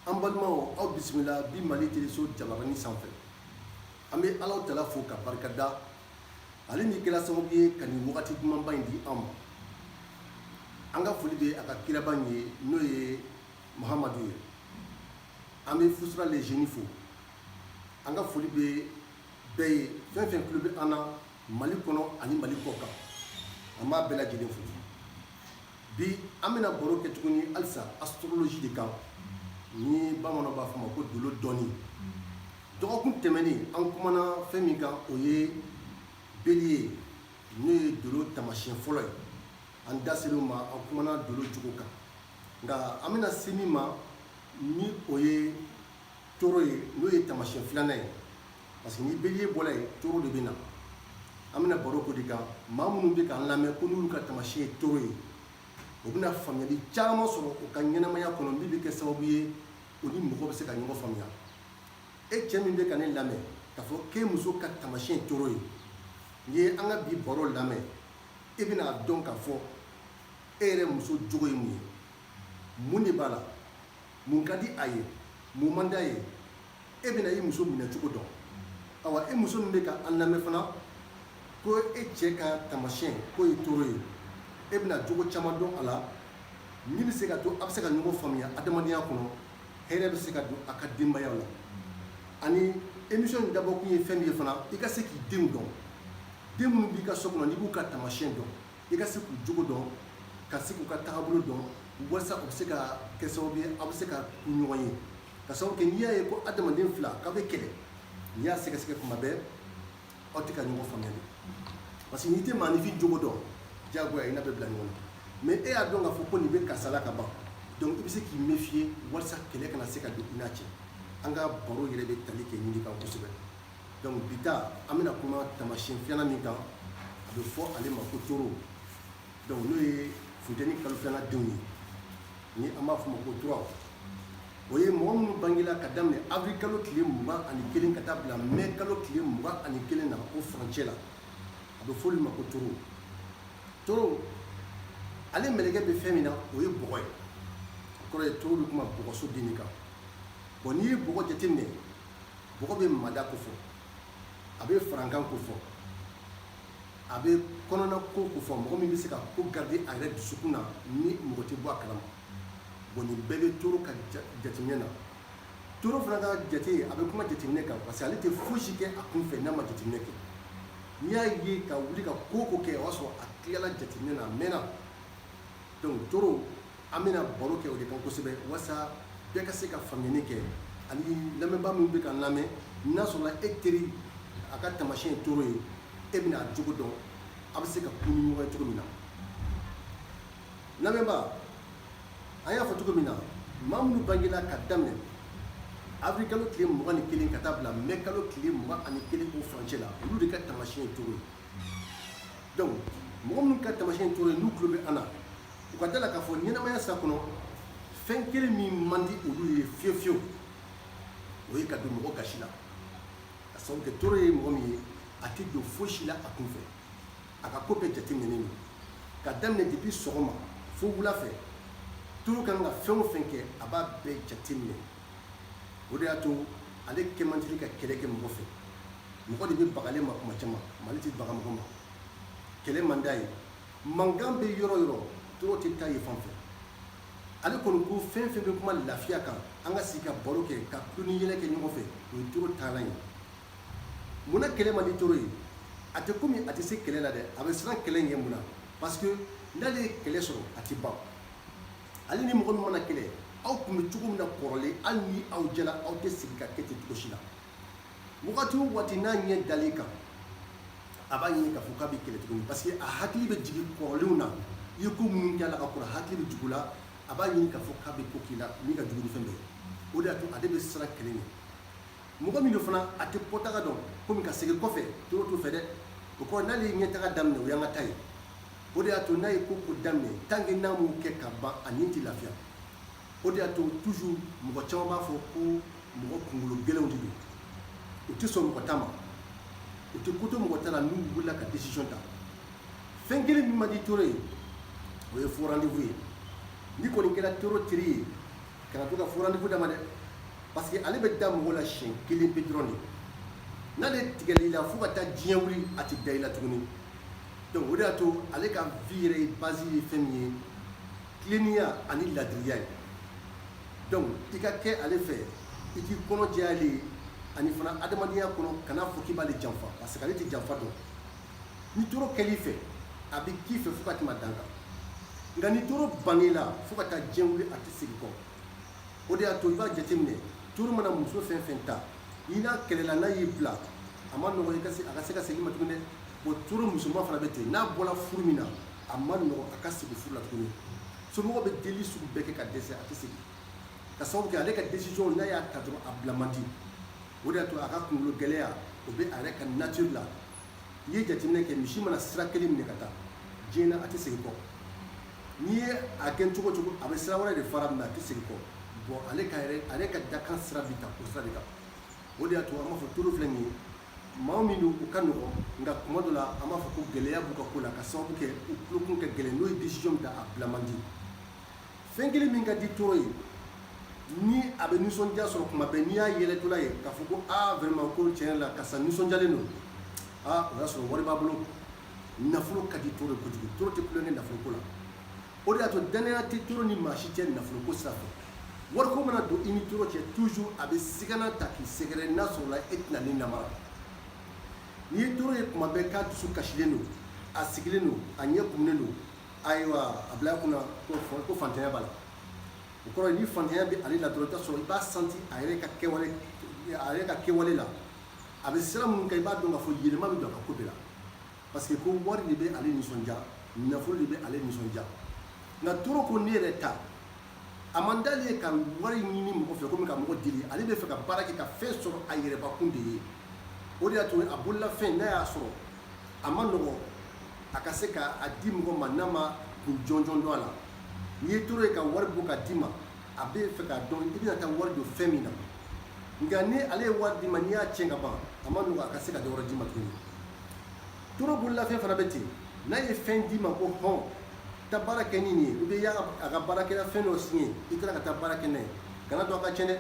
an balimaw aw bisimila bi mali teleso jabarani sanfɛ an bɛ alahu taala fo ka barikada ale min kɛra sababu ye ka nin wagati dumanba in di an ma an ka foli bɛ a ka kiraba in ye n'o ye muhamadu ye an bɛ fusura lezeni fo an ka foli bɛ bɛɛ ye fɛn fɛn tulo bɛ an na mali kɔnɔ ani mali kɔ kan an b'a bɛɛ lajɛlen fo bi an bɛna baro kɛ tuguni halisa astrologie de kan ni bamananw b'a fɔ ma ko dolo dɔnni dɔgɔkun tɛmɛnen an kumana fɛn min kan o ye bélier n'o ye dolo tamasiyɛn fɔlɔ ye an da ser'o ma an kumana dolo cogo kan nka an bɛna se min ma ni o ye taureau ye n'o ye tamasiyɛn filanan ye parce que ni bélier bɔra yen taureau de bɛ na an bɛna baro k'o de kan maa minnu bɛ k'an lamɛn ko n'olu ka tamasiyɛn ye taureau ye u bɛna faamuyali caman sɔrɔ u ka ɲɛnamaya kɔnɔ min bɛ kɛ sababu ye u ni mɔgɔ bɛ se ka ɲɔgɔn faamuya e cɛ min bɛ ka ne lamɛn k'a fɔ k'e muso ka tamasiyɛn taureau ye n'i ye an ka bi baro lamɛn e bɛn'a dɔn k'a fɔ e yɛrɛ muso jogo ye mun ye mun de b'a la mun ka di a ye mun man d'a ye e bɛna i muso minɛcogo dɔn awa e muso min bɛ ka an lamɛn fana ko e cɛ ka tamasiyɛn k'o ye taureau ye e bɛna jogo caman dɔn a la min bɛ se ka to a bɛ se ka ɲɔgɔn faamuya adamadenya kɔnɔ hɛrɛ bɛ se ka don a ka denbaya la ani émission in dabɔkun ye fɛn min ye fana i ka se k'i denw dɔn den minnu b'i ka so kɔnɔ n'i b'u ka tamasiyɛn dɔn i ka se k'u jogo dɔn ka se k'u ka tagabolo dɔn walasa u bɛ se ka kɛ sababu ye aw bɛ se ka ku ɲɔgɔn ye ka sababu kɛ n'i y'a ye ko adamaden fila k'aw bɛ kɛlɛ n'i y'a sɛgɛsɛgɛ kuma bɛɛ aw tɛ ka ɲɔgɔn faamuya de parce que n'i tɛ maanifin jogo dɔn diyagoya i n'a bɛ bila ɲɔgɔn na mais e y'a dɔn k'a fɔ ko nin bɛ karisa la ka ban donc i bɛ se k'i méfier walasa kɛlɛ kana se ka don i n'a cɛ an ka baro yɛrɛ bɛ tali kɛ nin de kan kosɛbɛ donc bi ta an bɛna kuma tamasiyɛn filanan min kan a bɛ fɔ ale ma ko taureau donc n'o ye funteni kalo filanan denw ye ni an b'a fɔ o ma ko turaw o ye mɔgɔ minnu bangela ka daminɛ avril kalo tile mugan ani kelen ka taa bila mai kalo tile mugan ani kelen na o furancɛ la a bɛ fɔ olu ma ko taureau taureau ale mɛlɛkɛ bɛ fɛn min na o ye bɔgɔ ye o kɔrɔ ye taureau bɛ kuma bɔgɔso den kan bon n'i ye bɔgɔ jateminɛ bɔgɔ bɛ mada kofɔ a bɛ farankan kofɔ a bɛ kɔnɔnako kofɔ mɔgɔ min bɛ se ka ko garder a yɛrɛ dusukun na ni mɔgɔ tɛ bɔ a kalama bon nin bɛɛ bɛ taureau ka jateminɛ na taureau fana ka jate a bɛ kuma jateminɛ kan parce que ale tɛ fosi kɛ a kunfɛ n'a ma jateminɛ kɛ n'i y'a ye ka wuli ka ko ko kɛ o y'a sɔrɔ a tilala jateminɛ na a mɛnna donc taureau an bɛna baro kɛ o de kan kosɛbɛ walasa bɛɛ ka se ka faamuyali kɛ ani lamɛnbaa min bɛ k'an lamɛn n'a sɔrɔla e teri a ka tamasiyɛn ye taureau ye e bɛna a jogo dɔn a bɛ se ka kun ni ɲɔgɔn ye cogo min na lamɛnbaa an y'a fɔ cogo min na maa minnu bangela ka daminɛ avril kalo tile mugan ni kelen ka taa bila mai kalo tile mugan ani kelen o furancɛ la olu de ka tamasiyɛn ye taureau ye donc mɔgɔ minnu ka tamasiyɛn ye taureau ye n'u tulo bɛ an na u ka da la k'a fɔ ɲɛnamaya sira kɔnɔ fɛn kelen min man di olu ye fiyewu fiyewu o ye ka don mɔgɔ gasi la ka sababu kɛ taureau ye mɔgɔ min ye a tɛ don fosi la a kunfɛ a ka ko bɛɛ jateminɛlen don ka daminɛ depuis sɔgɔma fo wula fɛ taureau kan ka fɛn o fɛn kɛ a b'a bɛɛ jateminɛ o de y'a to ale kɛ man teli ka kɛlɛ kɛ mɔgɔ fɛ mɔgɔ de bɛ baga ale ma kuma caman mais ale tɛ baga mɔgɔ ma kɛlɛ man d'a ye mankan bɛ yɔrɔ yɔrɔ taureau tɛ taa yen fan fɛ ale kɔni ko fɛn fɛn bɛ kuma lafiya kan an ka sigi ka baro kɛ ka tulon ni yɛlɛ kɛ ɲɔgɔn fɛ o ye taureau taalan ye munna kɛlɛ man di taureau ye a tɛ komi a tɛ se kɛlɛ la dɛ a bɛ siran kɛlɛ ɲɛ mun na parce que n'ale ye kɛlɛ sɔrɔ a tɛ ban ale ni mɔgɔ min mana kɛlɛ aw tun bɛ cogo min na kɔrɔlen hali ni aw jɛla aw tɛ segin ka kɛ ten cogo si la wagati o wagati n'a ɲɛ dal'i kan a b'a ɲini k'a fɔ k'a bɛ kɛlɛ tuguni parce que a hakili bɛ jigin kɔrɔlenw na i ye ko minnu kɛ a la ka kɔrɔ hakili bɛ jigin u la a b'a ɲini k'a fɔ k'a bɛ ko k'i la min ka jugu ni fɛn bɛɛ ye o de y'a to ale bɛ siran kɛlɛ ɲɛ mɔgɔ min don fana a tɛ kɔtaga dɔn komi ka segin kɔfɛ taureau t'o fɛ dɛ o kɔrɔ n'ale ye ɲɛtaga daminɛ o y'an ka taa ye o de y'a to n'a ye ko ko daminɛ tant que n'a m'o kɛ ka ban a ni tɛ lafiya o de y'a to toujours mɔgɔ caman b'a fɔ ko mɔgɔ kunkolo gɛlɛnw de don u tɛ sɔn mɔgɔ ta ma u tɛ ko to mɔgɔ ta la n'u wulila ka décision ta fɛn kelen min man di taureau ye o ye faux rendez-vous ye n'i kɔni kɛra taureau teri ye kana to ka faux rendez-vous d'a ma dɛ parce que ale bɛ da mɔgɔ la siɲɛ kelen pe dɔrɔn de n'ale tigɛl'i la fo ka taa diɲɛ wuli a tɛ da i la tuguni donc o de y'a to ale ka vie yɛrɛ base ye fɛn min ye tilennenya ani ladiriya ye donc i ka kɛ ale fɛ i k'i kɔnɔ jɛya ale ye ani fana adamadenya kɔnɔ kana fɔ k'i b'ale janfa parce que ale tɛ janfa dɔn ni taureau kɛl'i fɛ a bɛ k'i fɛ fo ka tɛmɛ dan kan nka ni taureau bann'i la fo ka taa diɲɛ wuli a tɛ segin kɔ o de y'a to i b'a jateminɛ taureau mana muso fɛn fɛn ta i n'a kɛlɛla n'a y'i bila a man nɔgɔ i ka se a ka se ka segin ma tuguni dɛ bon taureau musoman fana bɛ ten n'a bɔra furu min na a man nɔgɔ a ka segin furu la tuguni somɔgɔ bɛ deli sugu bɛɛ kɛ ka dɛsɛ a tɛ segin ka sababu kɛ ale ka décision n'a y'a ta dɔrɔn a bila man di o de y'a to a ka kunkolo gɛlɛya o bɛ a yɛrɛ ka nature la n'i ye jateminɛ kɛ misi mana sira kelen minɛ ka taa diɲɛ na a tɛ segin kɔ n'i ye a kɛ cogo cogo a bɛ sira wɛrɛ de fara mais a tɛ segin kɔ bon ale ka yɛrɛ ale ka dakan sira bɛ taa o sira de kan o de y'a to an b'a fɔ toro filɛ nin ye maa min don u ka nɔgɔn nka kuma dɔ la an b'a fɔ ko gɛlɛya b'u ka ko la ka sababu kɛ u tulokun ka gɛlɛn n'o ye décision min ta a bila man di fɛn kelen min ka di toro ye ni a bɛ nisɔndiya sɔrɔ kuma bɛɛ n'i y'a yɛlɛtɔla ye k'a fɔ ko aa vraiment ko tiɲɛ yɛrɛ la karisa nisɔndiyalen don aa o y'a sɔrɔ wari b'a bolo nafolo ka di toro ye kojugu toro tɛ tulonkɛ nafoloko la o de y'a to dannaya tɛ toro ni maa si cɛ nafoloko sira fɛ wariko mana don i ni toro cɛ toujours a bɛ sigana ta k'i sɛgɛrɛ n'a sɔrɔla e tɛna ni namara n'i ye toro ye kuma bɛɛ k'a dusu kasilen don a sigilen don a ɲɛ kumunen don ayiwa a bila kunna ko fantanya b'a la o kɔrɔ ni fantanya bɛ ale la dɔrɔn i bɛ t'a sɔrɔ i b'a santi a yɛrɛ ka kɛwale la a bɛ sira minnu kan i b'a dɔn k'a fɔ yɛlɛma bɛ don a ka ko bɛɛ la parce que ko wari de bɛ ale nisɔndiya nafolo de bɛ ale nisɔndiya nka toro ko ne yɛrɛ ta a man d'ale ye ka wari ɲini mɔgɔ fɛ komi ka mɔgɔ deli ale bɛ fɛ ka baara kɛ ka fɛn sɔrɔ a yɛrɛbakun de ye o de y'a to a bololafɛn n'a y'a sɔrɔ a man nɔgɔ a ka se k'a di mɔgɔ ma n'a ma kun jɔnjɔn dɔn a la n'i ye toro ye ka wari bɔ ka d'i ma a bɛ fɛ k'a dɔn i bɛna taa wari don fɛn min na nka ni ale ye wari d'i ma n'i y'a tiɲɛ ka ban a man nɔgɔ a ka se ka dɔ wɛrɛ d'i ma tuguni toro bololafɛn fana bɛ ten n'a ye fɛn d'i ma ko hɔn taa baara kɛ ni nin ye ou bien i y'a ka baarakɛla fɛn dɔ singa i taara ka taa baara kɛ n'a ye kana to a ka tiɲɛ dɛ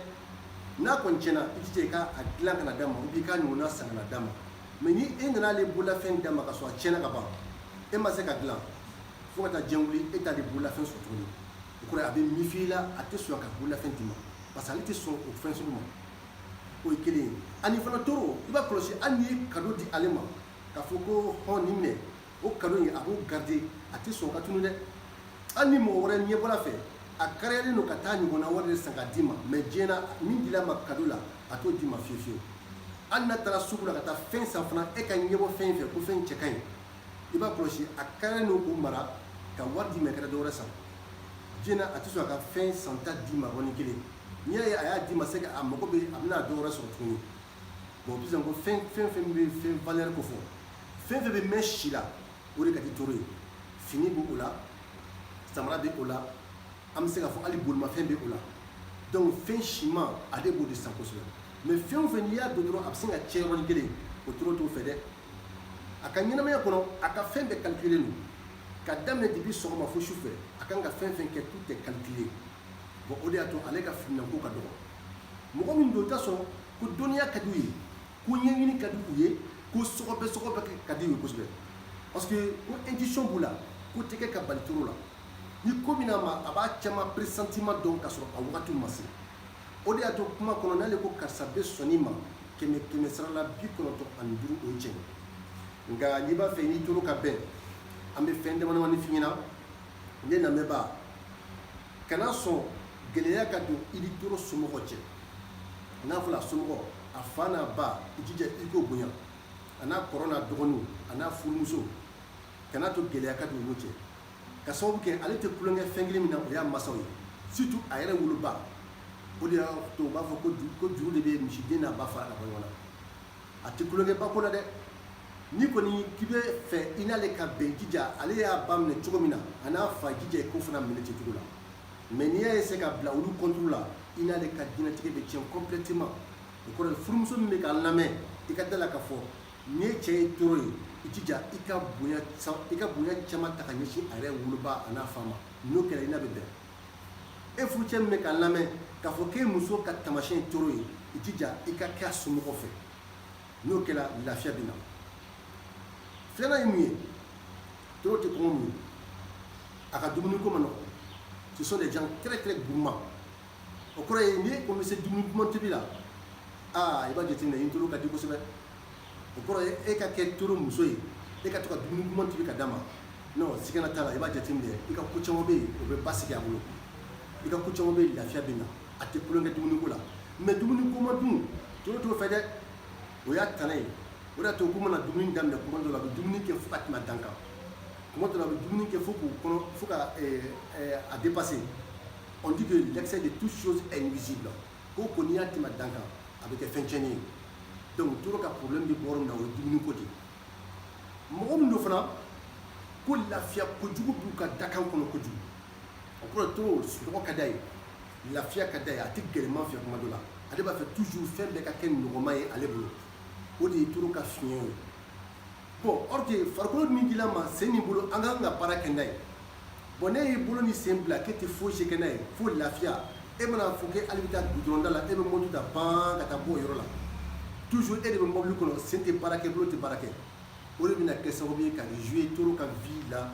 n'a kɔni tiɲɛna i jija i k'a dilan ka na d'a ma ou bien i k'a ɲɔgɔnna san ka na d'a ma mais ni e nana ale bololafɛn d'a ma ka sɔrɔ a tiɲɛna ka ban e ma se k'a dilan fo ka taa diɲɛ wuli e t'ale bololafɛn sɔrɔ tuguni o kɔrɔ a bɛ mifi la a tɛ sɔn k'a bololafɛn d'i ma parce que ale tɛ sɔn o fɛn sugu ma o ye kelen ye ani fana toro i b'a kɔlɔsi hali n'i ye kado di ale ma k'a fɔ ko hɔn nin minɛ o kado in a b'o garide a tɛ sɔn k'a tunu dɛ hali ni mɔgɔ wɛrɛ ɲɛ bɔr'a fɛ a kariyalen don ka taa ɲɔgɔnna wɛrɛ de san ka d'i ma mais diɲɛ na min dil'a ma kado la a t'o d'i ma fiyewu fiyewu hali n'a taara sugu la ka taa fɛn san fana e ka ɲɛbɔ fɛn in fɛ ko fɛn cɛ ka ɲi i b'a kɔlɔsi a kariyalen don k'o mara ka wari d'i ma i ka dɔwɛrɛ san diɲɛ na a tɛ sɔn a ka fɛn santa d'i ma yɔrɔnin kelen n'i y'a ye a y'a d'i ma c'est que a mago bɛ a bɛna dɔwɛrɛ sɔrɔ tuguni bon bi ko fɛn fɛn fɛn bɛ fɛn valeur kofɔ fɛn fɛn bɛ mɛn si la o de ka di toro ye fini bɛ o la samara bɛ o la an bɛ se k'a fɔ hali bolimafɛn bɛ o la donc fɛn siman ale b'o de san kosɛbɛ mais fɛn o fɛn n'i y'a don dɔrɔn a bɛ sin ka tiɲɛ yɔrɔnin kelen o toro t'o fɛ dɛ a ka ɲɛnamaya kɔnɔ a ka fɛn bɛɛ calculé don ka daminɛ depuis sɔgɔma fo su fɛ a kan ka fɛn fɛn kɛ tout est calculé bon o de y'a to ale ka fiminanko ka dɔgɔ mɔgɔ min don i t'a sɔrɔ ko dɔnniya ka di u ye ko ɲɛɲini ka di u ye ko sɔgɔbɛ sɔgɔbɛ ka di u ye kosɛbɛ parce que ko intuition b'u la ko tɛ kɛ ka bali toro la ni ko min n'a ma a b'a caman pressentiment dɔn ka sɔrɔ a wagati ma se o de y'a to kuma kɔnɔ n'ale ko karisa bɛ sɔn nin ma kɛmɛ kɛmɛ sara la bi kɔnɔntɔn ani duuru o ye tiɲɛ nka n'i b'a fɛ n'i toro ka bɛn an bɛ fɛn damadamani f'i ɲɛna ne lamɛnbaa kana sɔn gɛlɛya ka don i ni toro somɔgɔ cɛ n'a fɔra a somɔgɔ a fa n'a ba i jija i k'o bonya a n'a kɔrɔ n'a dɔgɔninw a n'a furumuso kana to gɛlɛya ka don olu cɛ ka sababu kɛ ale tɛ tulonkɛ fɛn kelen min na o y'a masaw ye surtout a yɛrɛ woloba o de y'a to u b'a fɔ ko juru de bɛ misiden n'a ba fara ka bɔ ɲɔgɔn na a tɛ tulonkɛ ba ko la dɛ n'i kɔni k'i b'a fɛ i n'ale ka bɛn jija ale y'a ba minɛ cogo min na a n'a fa jija i k'o fana minɛ ten cogo la mais n'i y'a essayer ka bila olu contre la i n'ale ka diɲɛlatigɛ bɛ tiɲɛ complètement o kɔrɔ furumuso min bɛ ka n lamɛn i ka da la k'a fɔ Ni e cɛ ye toro ye i jija i ka bonya caman ta ka ɲɛsin a yɛrɛ woloba a n'a fa ma n'o kɛra i n'a bɛ bɛn e furucɛ min bɛ ka n lamɛn k'a fɔ k'e muso ka tamasiyɛn ye toro ye i jija i ka kɛ a somɔgɔ fɛ n'o kɛra lafiya bɛ na filanan ye mun ye toro tɛ kɔngɔ muɲu a ka dumuni ko man nɔgɔ ce sont des gens très très gourmands o kɔrɔ ye ni ko bɛ se dumuni duman tobi la aa i b'a jateminɛ i toro ka di kosɛbɛ o kɔrɔ ye e ka kɛ toro muso ye e ka to ka dumuni duman tobi ka d'a ma non sigana t'a la i b'a jateminɛ i ka ko caman bɛ yen o bɛ basigi a bolo i ka ko caman bɛ yen lafiya bɛ na a tɛ tulonkɛ dumuni ko la mais dumuni goman dun toro t'o fɛ dɛ o y'a tana ye o de y'a to k'u mana dumuni daminɛ kuma dɔ la a bɛ dumuni kɛ fo ka tɛmɛ dan kan kuma dɔ la a bɛ dumuni kɛ fo k'u kɔnɔ fo ka a dépasser on dit que l'excès de toute chose est nuisible ko ko n'i y'a tɛmɛ dan kan a bɛ kɛ fɛn tiɲɛni ye donc toro ka problème bɛ bɔ yɔrɔ min na o ye dumuni ko de ye mɔgɔ min don fana ko lafiya kojugu b'u ka dakan kɔnɔ kojugu o kɔrɔ toro sunɔgɔ ka d'a ye lafiya ka d'a ye a tɛ gɛlɛman fɛ kuma dɔ la ale b'a fɛ toujours fɛn bɛɛ ka kɛ nɔgɔman ye ale bolo o de ye toro ka fiɲɛ ye bon or que farikolo min dila ma sen ni bolo an ka kan ka baara kɛ n'a ye bon n'e y'i bolo ni sen bila k'e tɛ foyi si kɛ n'a ye fo lafiya e mana fɔ k'e hali bɛ taa gudɔrɔnda la e bɛ moto ta ban ka taa bɔ o yɔrɔ la toujours e de bɛ mɔbili kɔnɔ sen tɛ baara kɛ bolo tɛ baara kɛ o de bɛna kɛ sababu ye ka jouer toro ka vie la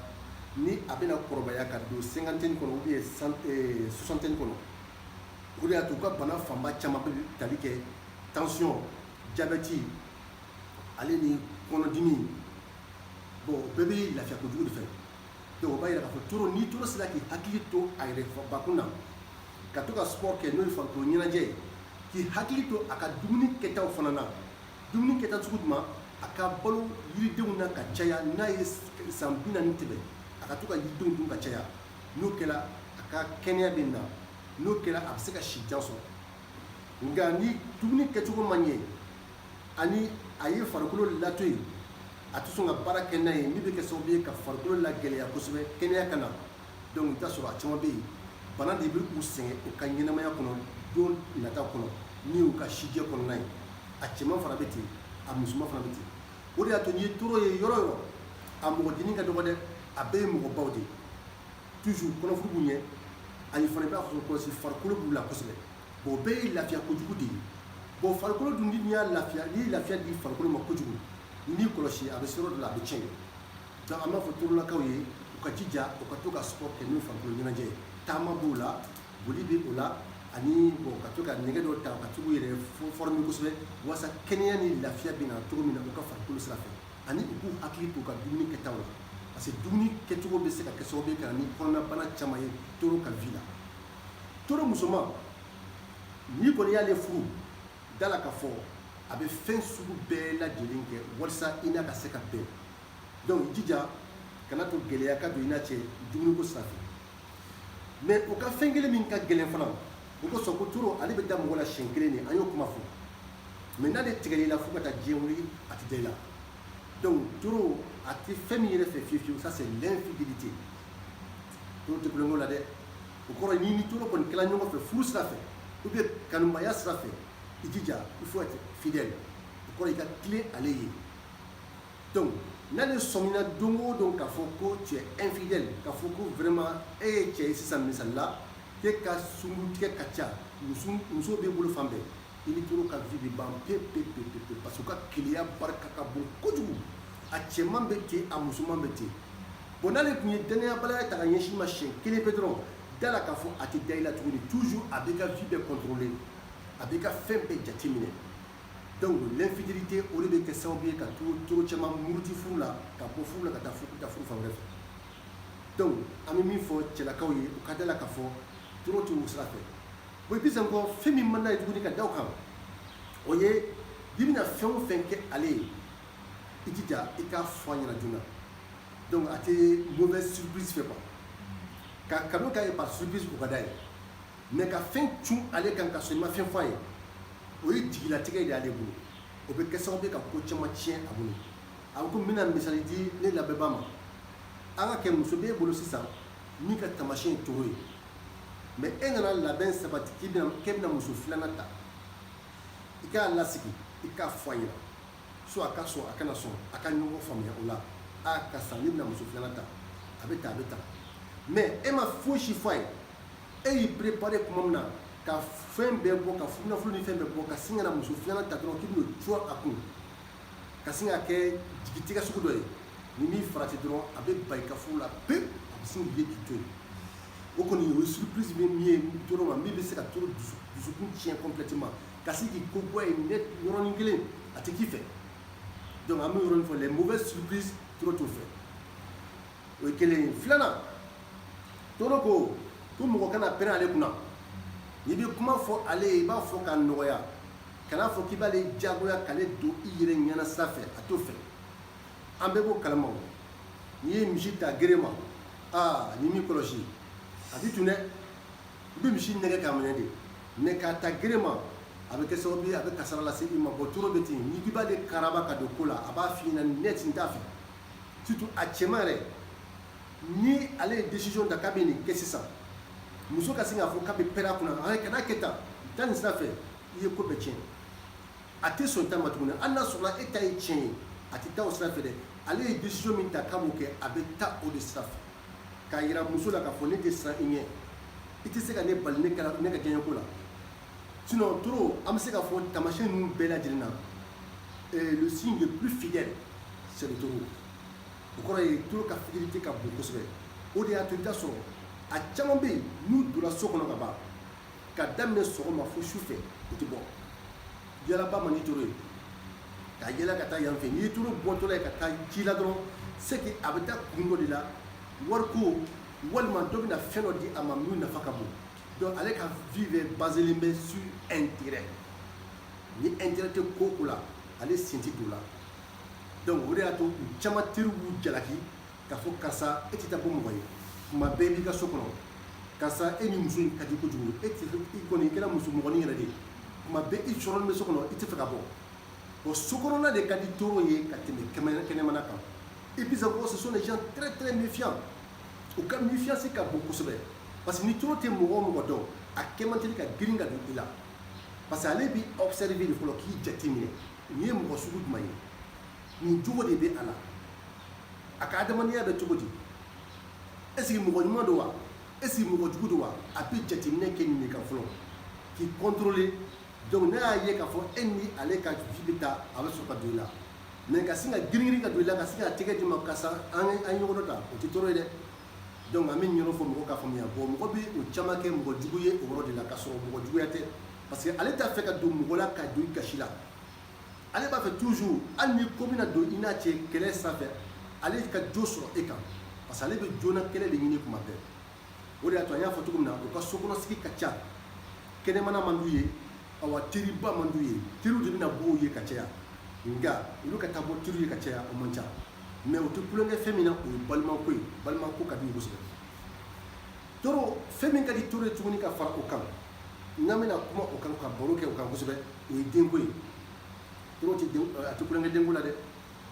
ni a bɛna kɔrɔbaya ka don cinquantaine kɔnɔ ou bien eh, soixantaine kɔnɔ o de y'a to u ka bana fanba caman bɛ tali kɛ tension jabɛti ale ni kɔnɔdimi bon o bɛɛ bɛ lafiya kojugu de fɛ donc o b'a yira k'a fɔ toro ni toro sera k'i hakili to a yɛrɛ bakun na ka to ka sport kɛ n'o ye farikolo ɲɛnajɛ ye k'i hakili to a ka dumuni kɛtaw fana na dumuni kɛta sugu jumɛn a ka balo yiridenw na ka caya n'a ye san bi naani tɛmɛ a ka to ka yiridenw dun ka caya n'o kɛra a ka kɛnɛya bɛ na n'o kɛra a bɛ se ka si jan sɔrɔ nka ni dumuni kɛcogo ma ɲɛ ani a ye farikolo lato yen a tɛ sɔn ka baara kɛ n'a ye min bɛ kɛ sababu ye ka farikolo lagɛlɛya kosɛbɛ kɛnɛya ka na donc i bɛ t'a sɔrɔ a caman bɛ yen bana de bɛ u sɛgɛn u ka ɲɛnamaya kɔnɔ don nata kɔnɔ n'o y'u ka sijɛ kɔnɔna ye a cɛman fana bɛ ten a musoman fana bɛ ten o de y'a to n'i ye toro ye yɔrɔ o yɔrɔ a mɔgɔ dennin ka dɔgɔ dɛ a bɛɛ ye mɔgɔbaw de ye toujours kɔnɔfuru b'u ɲɛ ani fana i b'a fɔ kɔlɔsi farikolo b'u la kosɛbɛ o bɛɛ ye lafiya kojugu de ye bon farikolo dun n'i y'a lafiya n'i ye lafiya di farikolo ma kojugu n'i kɔlɔsi a bɛ se yɔrɔ dɔ la a bɛ tiɲɛ donc an b'a fɔ torolakaw ye u ka jija u ka to ka sport kɛ n'o ye farikolo ɲɛnajɛ ye taama b'o la boli bɛ o la ani bon ka to ka nɛgɛ dɔ ta ka to k'u yɛrɛ former kosɛbɛ walasa kɛnɛya ni lafiya bɛ na cogo min na u ka farikolo sira fɛ ani u k'u hakili t'u ka dumuni kɛtaw la parce que dumuni kɛcogo bɛ se ka kɛ sababu ye ka na ni kɔnɔnabana caman ye toro ka vie la toro musoman n'i kɔni y'ale furu da la k'a fɔ a bɛ fɛn sugu bɛɛ lajɛlen kɛ walisa i n'a ka se ka bɛn donc i jija kana to gɛlɛya ka don i n'a cɛ dumuniko sira fɛ mais u ka fɛn kelen min ka gɛlɛn fana o kosɔn ko toro ale bɛ da mɔgɔ la siɲɛ kelen de an y'o kuma fɔ mais n'ale tigɛl'i la fo ka taa diɲɛ wuli a tɛ da i la donc toro a tɛ fɛn min yɛrɛ fɛ fiyewu fiyewu ça c'est l'infidélité toro tɛ tulonkɛ la dɛ o kɔrɔ n'i ni toro kɔni kɛla ɲɔgɔn fɛ furu sira fɛ ou bien kanubaya sira fɛ i jija il faut être fidèle o kɔrɔ i ka tilen ale ye donc n'ale sɔmina don o don k'a fɔ ko tu es infidèle k'a fɔ ko vraiment e ye cɛ ye sisan misali la k'e ka sungurutigɛ ka ca muso muso b'i bolo fan bɛɛ i ni toro ka vie bɛ ban pe pe pe pe pe parce que u ka keleya barika ka bon kojugu a cɛman bɛ ten a musoman bɛ ten bon n'ale tun ye danayabalaya ta ka ɲɛsin i ma siɲɛ kelen pe dɔrɔn da la k'a fɔ a tɛ da i la tuguni toujours a b'i ka vie bɛɛ contrôler a b'i ka fɛn bɛɛ jateminɛ donc l'infidélité o de bɛ kɛ sababu ye ka toro toro caman muruti furu la ka bɔ furu la ka taa furu ka taa furu fan wɛrɛ fɛ donc an bɛ min fɔ cɛlakaw ye u ka da la k'a fɔ toro tɛ o sira fɛ bon et puis encore fɛn min man d'a ye tuguni ka da o kan o ye i bɛna fɛn o fɛn kɛ ale ye i jija i k'a fɔ a ɲɛna joona donc a tɛ mauvaise surprise fɛ quoi ka kanu k'a ye par surprise o ka d'a ye mais ka fɛn cun ale kan ka sɔrɔ i ma fɛn fɔ a ye o ye jigilatigɛ de y'ale bolo o bɛ kɛ sababu ye ka ko caman tiɲɛ a bolo a ko n bɛna misali di ne lamɛnbaa ma an ka kɛ muso b'e bolo sisan min ka taamasiyɛn ye taureau ye mais e nana labɛn sabati k'e bɛna muso filanan ta i k'a lasigi i k'a fɔ a ɲɛna soit a ka sɔn a kana sɔn a ka ɲɔgɔn faamuya o la a karisa ne bɛna muso filanan ta a bɛ ta a bɛ ta mais e ma fosi fɔ a ye e y'i préparer tuma min na ka fɛn bɛɛ bɔ ka nafolo ni fɛn bɛɛ bɔ ka sin ka na muso filanan ta dɔrɔn k'i bɛn'o cun a kun ka sin ka kɛ jigitigɛ sugu dɔ ye n'i m'i farati dɔrɔn a bɛ ban i ka furu la pewu a bɛ sin k'i k'i to yen o kɔni o ye surprise min ye taureau ma min bɛ se ka taureau dusukun tiɲɛ complètement ka sin k'i ko bɔ yen net yɔrɔnin kelen a tɛ k'i fɛ donc an bɛ yɔrɔnin fɔ les mauvaises surprises taureau t'o fɛ o ye kelen ye filanan taureau ko ko mɔgɔ kana pɛrɛn ale kunna n'i bɛ kuma fɔ ale ye i b'a fɔ k'a nɔgɔya kana fɔ k'i b'ale jagoya k'ale don i yɛrɛ ɲɛna sira fɛ a t'o fɛ an bɛɛ b'o kalama o n'i ye misi ta gere ma aa n'i m'i kɔlɔsi a t'i to dɛ i bɛ misi nɛgɛ k'a minɛ de mais k'a ta gere ma a bɛ kɛ sababu ye a bɛ kasara lase i ma bon taureau bɛ ten n'i k'i b'ale karaba ka don ko la a b'a f'i ɲɛna net n t'a fɛ surtout a cɛman yɛrɛ ni ale ye décision ta k'a bɛ nin kɛ sisan muso ka sin k'a fɔ k'a bɛ pɛrɛn a kunna kana kɛ tan taa nin sira fɛ i ye ko bɛɛ tiɲɛ a tɛ sɔn ta ma tuguni hali n'a sɔrɔla e ta ye tiɲɛ ye a tɛ taa o sira fɛ dɛ ale ye décision min ta k'a b'o kɛ a bɛ taa o de sira fɛ k'a yira muso la k'a fɔ ne tɛ siran i ɲɛ i tɛ se ka ne bali ne ka diyanyeko la sinon taureau an bɛ se k'a fɔ taamasiyɛn ninnu bɛɛ lajɛlen na euh, le signe le plus fidèle c'est le taureau o kɔrɔ ye taureau ka fidélité ka bon kosɛbɛ o de y'a to i bɛ t'a sɔrɔ a caman bɛ yen n'u donna so kɔnɔ ka ban ka daminɛ sɔgɔma fo su fɛ u tɛ bɔ yaalaba man di taureau ye ka yaala ka taa yan fɛ n'i ye taureau bɔtɔla ye ka taa ci la dɔrɔn c'est que a bɛ taa kun dɔ de la wariko walima dɔ bɛna fɛn dɔ di a ma min nafa ka bon donc ale ka vie bɛɛ baselen bɛ sur intérêt ni intérêt tɛ ko o ko la ale sen tɛ don o la donc o de y'a to u caman teriw b'u jalaki k'a fɔ karisa e tɛ taa bɔ mɔgɔ ye kuma bɛɛ b'i ka so kɔnɔ karisa e ni muso in ka di kojugu e tɛ i kɔni i kɛra muso mɔgɔnin yɛrɛ de ye kuma bɛɛ i sɔrɔlen bɛ so kɔnɔ i t'a fɛ ka bɔ bon so kɔnɔna de ka di toro ye ka tɛmɛ kɛnɛmana kan et puis encore ce sont des gens très très méfiants u ka méfiance ka bon kosɛbɛ parce que ni toro tɛ mɔgɔ o mɔgɔ dɔn a kɛ man teli ka girin ka don i la parce que ale b'i observer de fɔlɔ k'i jateminɛ nin ye mɔgɔ sugu jumɛn ye nin jogo de bɛ a la a ka adamadenya bɛ cogo di est ce que mɔgɔ ɲuman don wa est ce que mɔgɔ jugu don wa a bɛ jateminɛ kɛ nin de kan fɔlɔ k'i contrôler donc n'a y'a ye k'a fɔ e ni ale ka vie bɛ taa a bɛ sɔrɔ ka don i la mais ka sin ka giringirin ka don i la ka sin ka tɛgɛ d'i ma karisa an ye ɲɔgɔn dɔn ta o tɛ toro ye dɛ donc an bɛ ɲɔgɔn fɔ mɔgɔw k'a faamuya bon mɔgɔ bɛ o caman kɛ mɔgɔ jugu ye o yɔrɔ de la k'a sɔrɔ mɔgɔ juguya tɛ parce que ale t'a fɛ ka don mɔgɔ la ka don i gasi la ale b'a fɛ toujours hali ni ko bɛna don i n'a cɛ kɛlɛ senfɛ ale ka jo sɔrɔ e kan parce que ale bɛ joona kɛlɛ de ɲini kuma bɛɛ o de y'a to an y'a fɔ cogo min na u ka sokɔnɔsigi ka ca kɛnɛmana man d'u ye awa teriba man d'u ye teriw de bɛ na bɔ u ye ka caya nka olu ka taa bɔ teriw ye ka caya o man ca mais u tɛ tulonkɛ fɛn min na o ye balimako ye balimako ka di u kosɛbɛ toro fɛn min ka di toro ye tuguni ka fara o kan n'an bɛna kuma o kan ka baro kɛ o kan kosɛbɛ o ye denko ye toro tɛ den a tɛ tulonkɛ denko la dɛ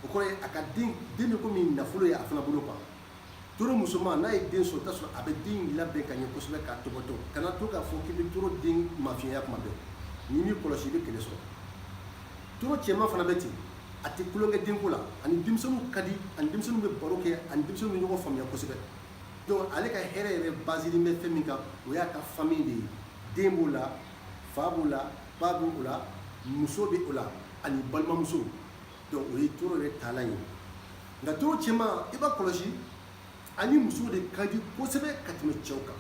o kɔrɔ ye a ka den den bɛ komi nafolo ye a fana bolo kan toro musoman n'a ye den sɔrɔ i t'a sɔrɔ a bɛ den labɛn ka ɲɛ kosɛbɛ k'a topoto kana to k'a fɔ k'i bɛ toro den mafiɲɛya kuma bɛɛ n'i m'i kɔlɔsi i bɛ kɛlɛ sɔrɔ toro cɛman fana bɛ ten a tɛ tulonkɛ denko la a ni denmisɛnninw ka di a ni denmisɛnninw bɛ baro kɛ a ni denmisɛnninw bɛ ɲɔgɔn faamuya kosɛbɛ donc ale ka hɛrɛ yɛrɛ basilen bɛ fɛn min kan o y'a ka famille de ye den b'o la fa b'o la ba b'o la muso bɛ o la ani balimamusow donc o ye toro yɛrɛ taalan ye nka toro cɛman i b'a kɔlɔsi a ni musow de ka di kosɛbɛ ka tɛmɛ cɛw kan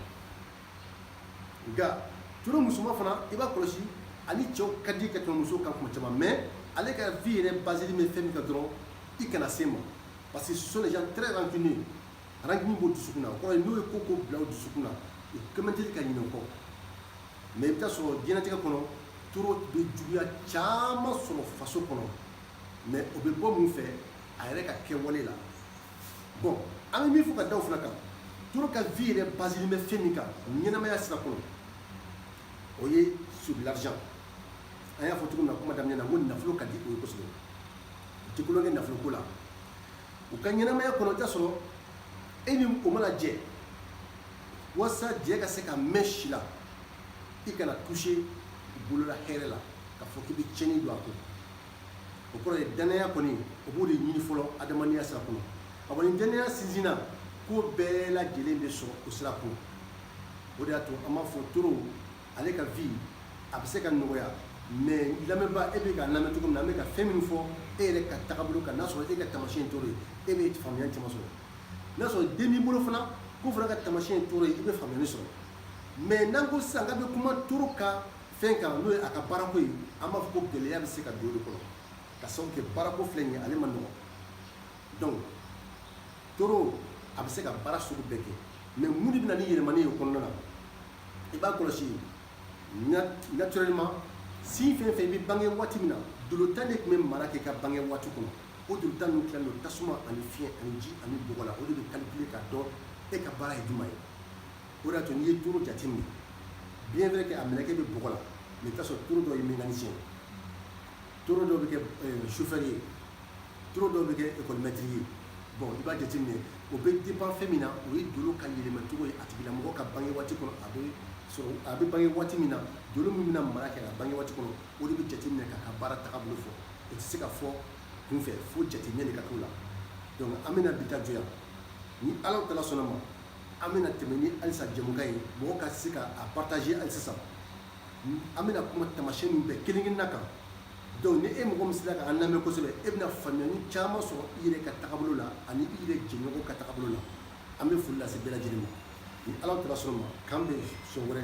nka toro musoman fana i b'a kɔlɔsi a ni cɛw ka di ka tɛmɛ musow kan kuma caman mais ale ka vie yɛrɛ basilen bɛ fɛn min kan dɔrɔn i kana se ma parce que ce sont des gens très rancuniers rancune b'u dusukun na o kɔrɔ n'u ye ko ko bila dusukun na u kɛ man teli ka ɲinɛ o kɔ mais i bɛ taa sɔrɔ diɲɛlatigɛ kɔnɔ toro bɛ juguya caman sɔrɔ faso kɔnɔ mais o bɛ bɔ mun fɛ a yɛrɛ ka kɛwale la bon an bɛ min fɔ ka da o fana kan toro ka vie yɛrɛ basilen bɛ fɛn min kan ɲɛnamaya sira kɔnɔ o ye sur l'argent an y'a fɔ cogo min na kuma daminɛ na ko nafolo ka di u ye kosɛbɛ u tɛ tulonkɛ nafolo ko la u ka ɲɛnamaya kɔnɔ i t'a sɔrɔ e ni o mana jɛ walasa jɛ ka se ka mɛn si la i kana toucher bolola hɛrɛ la k'a fɔ k'i bɛ tiɲɛni don a kun o kɔrɔ ye dannaya kɔni o b'o de ɲini fɔlɔ adamadenya sira kɔnɔ a kɔni dannaya sinsinna ko bɛɛ lajɛlen bɛ sɔrɔ o sira kun o de y'a to an b'a fɔ toro ale ka vie a bɛ se ka nɔgɔya mais lamɛnba e bɛ ka lamɛn cogo min na an bɛ ka fɛn min fɔ e yɛrɛ ka tagabolo kan n'a sɔrɔ e ka tamasiyɛn toro ye e bɛ faamuyali caman sɔrɔ n'a sɔrɔ den b'i bolo fana k'o fana ka tamasiyɛn toro ye i bɛ faamuyali sɔrɔ mais n'an ko sisan k'an bɛ kuma toro ka fɛn kan n'o ye a ka baarako ye an b'a fɔ ko gɛlɛya bɛ se ka don o de kɔnɔ ka sababu kɛ baarako filɛ nin ye ale man nɔgɔn donc toro a bɛ se ka baara sugu bɛɛ kɛ mais mun de bɛ na ni yɛlɛmani ye o kɔnɔna na i b'a kɔlɔsi naturellement signe fɛn fɛn i bɛ bange waati min na dolo tan de tun bɛ mara kɛ ka bange waati kɔnɔ o dolo tan ninnu tilalen don tasuma ani fiɲɛ ani ji ani bɔgɔ la o de bɛ calculer k'a dɔn e ka baara ye jumɛn ye o de y'a to n'i ye toro jateminɛ bien vrai que a mɛlɛkɛ bɛ bɔgɔ la mais i bɛ t'a sɔrɔ toro dɔ ye mécanicien ye toro dɔ bɛ kɛ chauffeur ye toro dɔw bɛ kɛ école maître ye bon i b'a jateminɛ o bɛ dépend fɛn min na o ye dolo ka yɛlɛmacogo ye a tigilamɔgɔ ka bange waati kɔnɔ a bɛ bange waati min na dolo min bɛna mara kɛ ka bange waati kɔnɔ o de bɛ jateminɛ k'a ka baara tagabolo fɔ o tɛ se ka fɔ kunfɛ fo jateminɛ de ka k'o la donc an bɛna bi ta jɔ yan ni ala tala sɔnna ma an bɛna tɛmɛ ni halisa jɛmukan ye mɔgɔ ka se ka a partager hali sisan an bɛna kuma tamasiyɛn ninnu bɛɛ kelen kelenna kan donc ni e mɔgɔ min sera k'an lamɛn kosɛbɛ e bɛna faamuyali caman sɔrɔ i yɛrɛ ka tagabolo la ani i yɛrɛ jɛɲɔgɔn ka tagabolo la an bɛ foli lase bɛɛ lajɛlen ma ni ala tala sɔnna ma k'an bɛn sɔn wɛrɛ